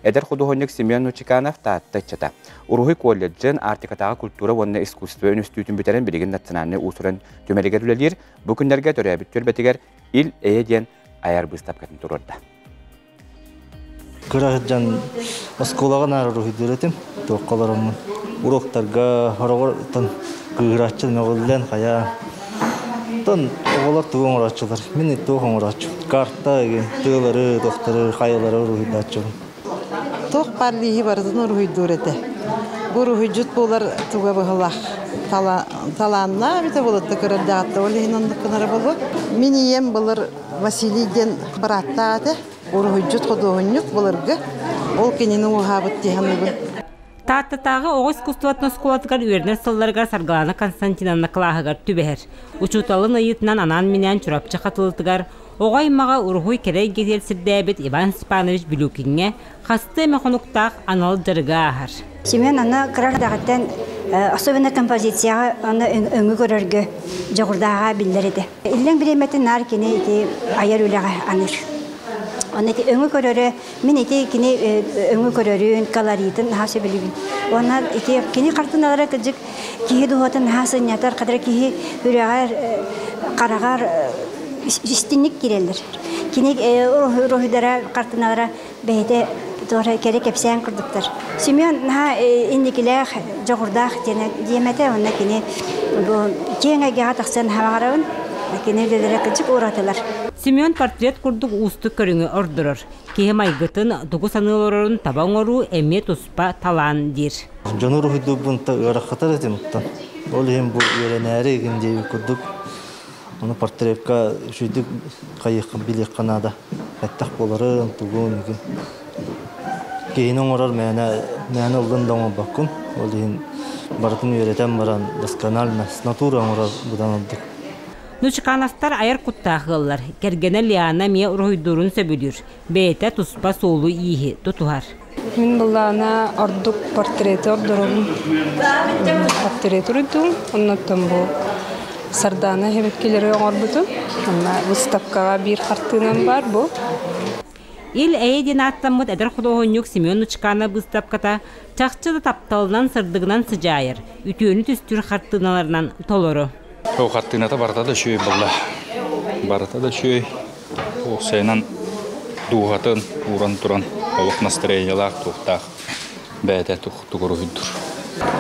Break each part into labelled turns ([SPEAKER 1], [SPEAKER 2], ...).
[SPEAKER 1] Эдэр худуоһунньук Семен Нучеканов Таатта ыччата. Уруһуй колледжын Арктикатааҕы культура уонна искусство үнүстүүтүн бүтэрэн билигин национальнай уусуран түмэлигэр үлэлиир. Бу күннэргэ төрөөбүт түөлбэтигэр Ил Эйэ диэн айар быыстапкатын туруорда. Кыра
[SPEAKER 2] сылдьан оскуолаҕа наар уруһуйдуур этим. туохха олороммун уруоктарга хороҕортон кыырааччы мөҕүллэн хайаа оттон оҕолор тугу оҥорооччулар мин туох оҥорооччу карта тыалары туохтары хайалары уруһуйдааччыбын туох
[SPEAKER 3] баар лииһи барытын уруһуйдуур этэ бу уруһуйдьут буолар туга быһылаах талааннаах эбитэ болотто көрөр даҕатта ол иһин оннук гынара болот мин ийэм былыр Василий диэн бырааттаах этэ уруһуйдьут-худуоһунньук былыргы ол кинини уһаабыт дии саныыбын. Тааттатааҕы
[SPEAKER 4] оҕо искусствотын оскуолатыгар үөрэнэр сылларыгар Саргылана Константиновна кылааһыгар түбэһэр. Учууталын ыйыытынан анаан-минээн Чурапчы Хатылытыгар оҕо аймаҕа уруһуй кэрэ эйгэтигэр сирдээбит Иван Степанович Билюкиҥҥэ хастыы эмэ хонуктаах анал дьарыгы ааһар. Семен аны кыра
[SPEAKER 5] эрдэҕиттэн особенно композицияҕа аны өҥү көрөргө дьоҕурдааҕа биллэр этэ. Иллэҥ бириэмэтин наар кини ити айар үлэҕэ аныыр. Оны ити өҥү көрөрө, мин ити кини өҥү көрөрүн, колоритын наһаа сөбүлүүбүн. Онно ити кини картиналара кыдьык киһи дууһатын наһаа сынньатар, кадра киһи үрэҕэр, хараҕар истинник кирэллэр. Кини роһидара, картиналара бэйэтэ туора кэрэ кэпсээн курдуктар. Семен наһаа инникилээх, дьоҕурдаах диэм этэ, онно кини бу киэҥ эйгэҕэ тахсыан хараҕын кини үлэлэрэ кыдьык ууратылар. Семен портрет
[SPEAKER 4] курдук уустук көрүҥү ордорор. Киһи майгытын, тугу саныы олорорун таба оҥоруу эмиэ туспа талаан диир. Дьону уруһуйдуурбунта
[SPEAKER 2] ыарахатар этим оттон ол иһин бу үөрэнээри игин диэбит курдук ону портретка үчүйдүк хайыахха билиэххэ наада. Этэх буоларын, тугун, киһини оҥорор мээнэ, мээнэ ыллын да оҥорбоккун. Ол иһин барытын үөрэтэн баран досконально с натурой оҥорор быдан ордук. Нучкановтар
[SPEAKER 4] айар куттаах ыаллар. Кэргэнэ Лиана эмиэ уруһуйдуурун сөбүлүүр. Бэйэтэ туспа суолу-ииһи тутуһар. Мин былаана
[SPEAKER 6] ордук портреты ордоробун. Портреты уруйдум, оннуттан бу Сардаана эһэбэккилэри оҥорбутум. Онно выставкаҕа биир хартыынам баар бу.
[SPEAKER 4] Ил Эйэ диэн ааттаммыт эдэр худуоһунньук Семен Нучканов быыстапката чахчы да тапталынан, сырдыгынан сыдьаайар, үтүөнү түстүүр хартыыналарынан толору. Ол хаттыыната
[SPEAKER 7] барыта да үчүгэй буолла. Барыта да үчүгэй. Уопсайынан дууһатын ууран туран олох настроениялаах туохтаах бэйэтэ тугуруһуйдур.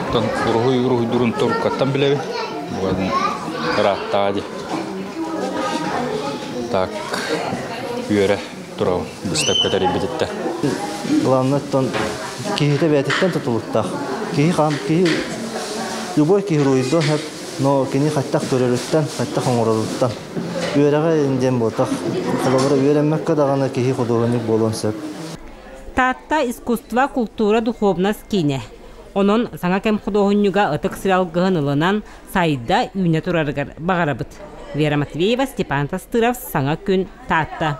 [SPEAKER 7] Оттон уруһуй уруһуйдурун торуккаттан билэбин. Бу ырааттаҕа дии. Так үөрэ турабын быыстапка тэрийбититтэн. Главныттан
[SPEAKER 2] киһитэ бэйэтиттэн тутулуктаах. Киһи хаан киһи любой киһи уруйдо Но кини хайдах көрөрүттэн, хайдах оҥороруттан үөрэҕэ диэн буотах. Холобура үөрэммэккэ даҕаны киһи худуоһунньук буолуон сөп. Таатта
[SPEAKER 4] искусство, култуура, духуобунас киинэ. Онон саҥа кэм худуоһунньуга ытык сир алгыһын ылынан сайда үүнэ турарыгар баҕарабыт. Вера Матвеева, Степан Тастыров, саҥа күн Таатта.